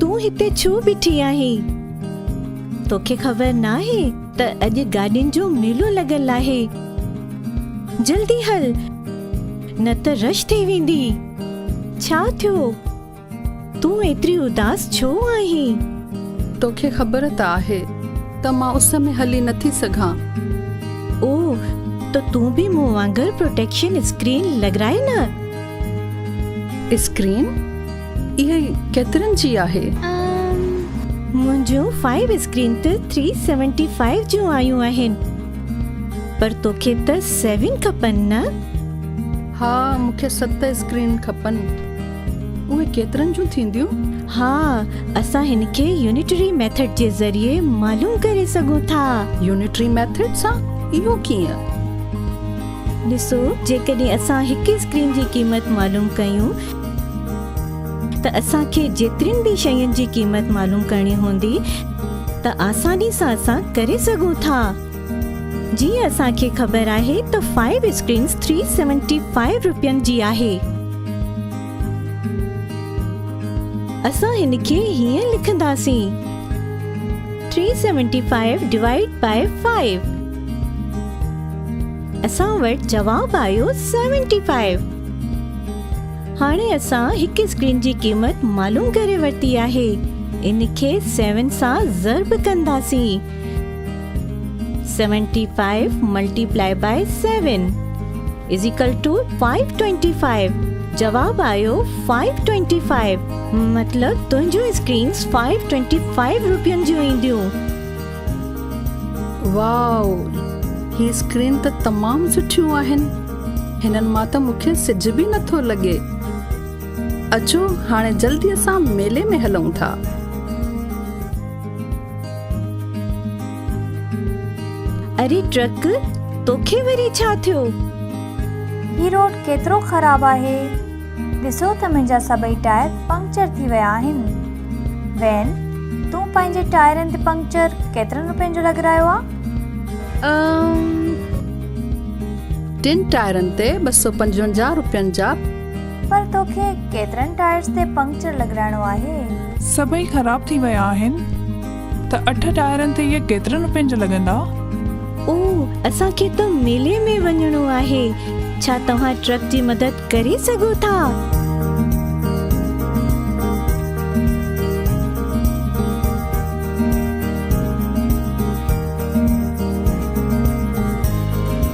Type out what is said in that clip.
تون هتي ڇو بيٺي آهين توکي خبر ناهي ته اڄ گاڏين جو ميلو لڳل آهي جلدي هل نه ته رش ٿي ويندي ڇا ٿيو تون ايتري اداس ڇو آهين؟ توکي خبر ته آهي ته مان اس ۾ هلي نٿي سگهان. او ته تون به مون وانگر پروٽيڪشن اسڪرين لڳرائي نه. اسڪرين؟ اهي ڪيترن جي آهي؟ منهنجون فائيو اسڪرين ته ٿري سيونٽي فائيو جون آيون آهن. پر توکي ته سيون کپن نه؟ ها مون کي ست اسڪرين کپن. اهي ڪيترن جون ٿينديون؟ ها اسان هن کي يونٽري ميٿڊ جي ذريعي معلوم ڪري سگهون ٿا. يونٽري ميٿڊ سان؟ اهو ڪيئن؟ ڏسو جيڪڏهن اسان هڪ اسڪرين جي قيمت معلوم ڪيون ته اسان کي جيترين به شين جي قيمت معلوم ڪرڻي هوندي ته آساني سان اسان ڪري سگهون ٿا. جيئن اسان کي خبر آهي ته five screens three seventy five روپين جي آهي. اسان هن کي هيئن لکنداسين three seventy five divide by five اسان وٽ جواب آيو سيونٽي فائيو هاڻي اسان هڪ اسڪرين جي قيمت معلوم ڪري ورتي آهي ان کي سيون سان ضرب ڪنداسين. Seventy five multiply by seven is equal to five twenty five جواب آيو 525 مطلب تنهنجون اسڪرينز 525 روپين جون اينديون واو هي اسڪرين ته تمام سٺيون آهن هنن مان ته مونکي سج به نٿو لڳي اچو هاڻي جلدي سان ميلي ۾ هلون ٿا اري ٽرڪ توکي وري ڇا ٿيو. هي روڊ ڪيترو خراب آهي. ڏسو ته منهنجا سڀئي ٽائر پنڪچر ٿي ويا آهن. وين، تون پنهنجي ٽائرن تي پنڪچر ڪيترن روپين جو لڳرايو آ؟ ٽن ٽائرن تي ٻه سؤ پنجونجاهه روپين جا. پر توکي ڪيترن ٽائرس تي پنڪچر لڳرائڻو آهي؟ سڀئي خراب ٿي ويا آهن. ته اٺ ٽائرن تي اهي ڪيترن روپين جا لڳندا؟ او اسان کي ته ميلي ۾ وڃڻو آهي. ڇا توهان ٽرڪ جي مدد ڪري سگهو ٿا؟